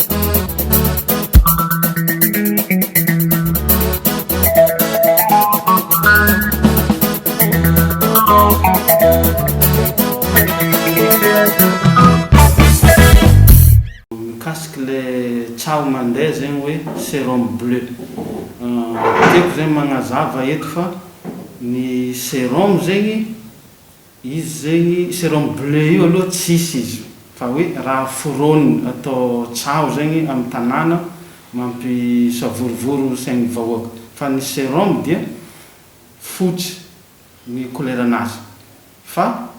Mikasiky le tsaho mandeha zegny hoe serum bleu. Tiako zegny magnazava eto fa ny serum zegny. Izy zegny serum bleu io aloha tsisy izy fa hoe raha foroniny atao tsaho zegny am tanàna mampisavorovoro sain'ny vahoaka fa ny serum dia fotsy ny koleranazy fa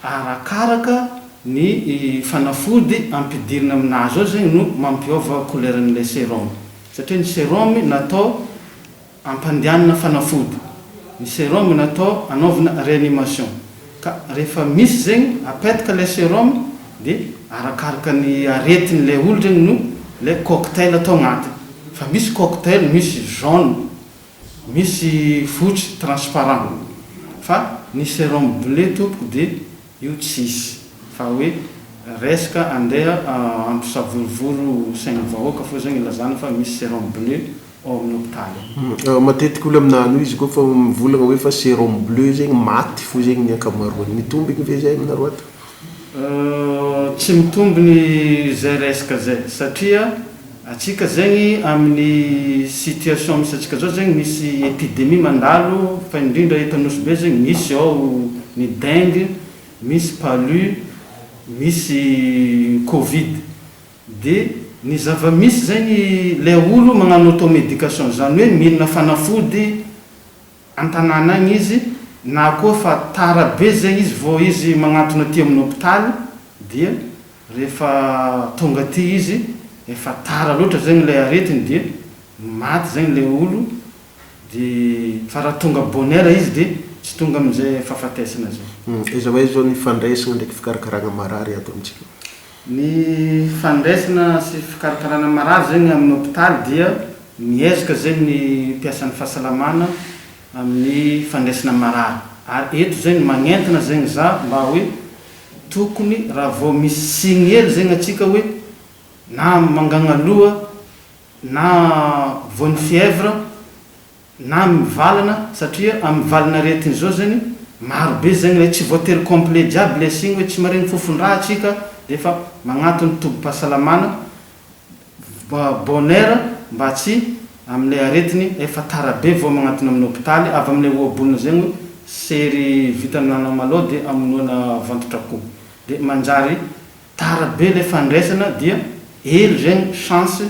arakaraka ny fanafody ampidirina aminazy ao zegny no mampiôva koleran'ilay serum satria ny serum natao Ampandehanina fanafody, ny serum natao anaovana reanimation ka rehefa misy zegny apetaka ilay serum de arakaraka ny aretin'ilay olo regny no ilay cocktail atao agnatiny fa misy cocktail misy jaune misy fotsy transparent fa ny serum bleu tompoko de Io tsisy. Fa hoe resaka andeha hampisavorovoro sain'ny vahoaka foa zao ilazana fa misy serum bleu ao amin'ny hopitaly ao. Matetika olona minano izy ko fa mivolagna hoe fa serum bleu zegny maty fo zegny ny ankamaroany. Mitombigny ve zay aminareo ato? Tsy mitombigny zay resaka zay satria. Antsika zegny amin'ny situation misy antsika zao zegny misy epidemie mandalo fa indrindra eto Nosy Be zegny misy ao ny dengue, misy palu, misy covid. De ny zava-misy zegny le olo magnano auto-medication zany hoe milina fanafody. an-tanàna any izy na koa fa tara be izay izy vao izy magnantona aty amin'ny hopitaly dia rehefa tonga aty izy efa tara loatra zegny ilay aretiny dia maty zegny ilay olo de fa raha tonga bonheur izy dia tsy tonga amin'izay fahafatesana zay. Aiza ho aiza zao ny fandraisana ndraiky fikarakaragna marary ato amintsika? Ny fandraisana sy fikarakarana marary zegny amin'ny hopitaly dia miezaka zegny ny mpiasan'ny fahasalamana amin'ny fandraisana marary ary eto zegny magnentana zegny za mba hoe tokony raha vao misy signe hely zegny antsika hoe na mangagna loha na voan'ny fièvre, na amin'ny valana satria amin'ny valin'aretina izao zany maro be zegny le tsy voatery complet jiaby le signe hoe tsy maregny fofon-draha atsika de efa magnato ny tobim-pahasalamana bonheur mba tsy amle aretiny efa tara be vao magnatona amin'ny hopitaly avy amle ohabolana zegny hoe sery vitany anao malao de amonoana vantotra ko de manjary Tara be le fandraisana dia hely zegny chance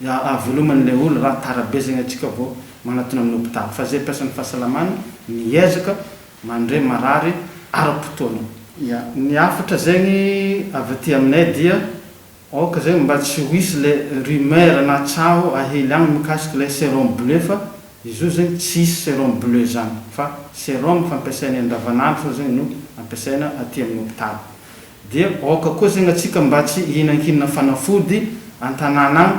avelomany le olo ra tara be zegny atsika vo manatona aminy hopitaly fa ze mpiasany fahasalamana miezaka mandre marary ara-potoana. Ya, ny hafatra zegny avy aty aminay dia aoka zegny mba tsy ho hisy le rumeur na tsaho ahely agny mikasiky le serum bleu fa izy io zegny tsy hisy serum bleu zany fa serum fampiasainay andavanandro fô zegny no ampiasaina aty aminy hopitaly Dia aoka koa zegny atsika mba tsy hihinankinina fanafody antanàna agny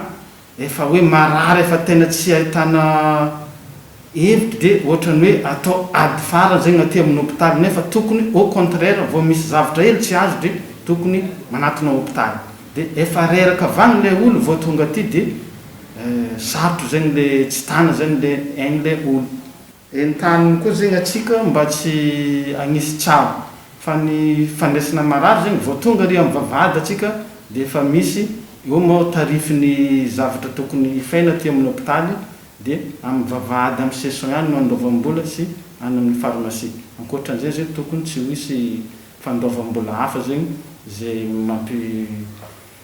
efa hoe marary efa tena tsy ahitana heviky de ohatrany hoe atao ady farany zegny aty aminy hopitaly nefa tokony au contraire vao misy zavatra hely tsy azo de tokony manatona hopitaly de efa reraka avagny le olo vao tonga aty de sarotro zegny le tsy tana zegny le aigny le olo. Entaniny koa zegny atsika mba tsy agnisy tsabo fa ny fandraisana marary zegny vao tonga ary am vavahady atsika de efa misy eo moa tarifin'ny zavatra tokony hifaina aty amin'ny hopitaly de am vavahady am session ihany no andoavam-bola sy any amin'ny pharmacie. Ankoatran'izay zegny tokony tsy ho hisy fandoavam-bola hafa zegny ze mampi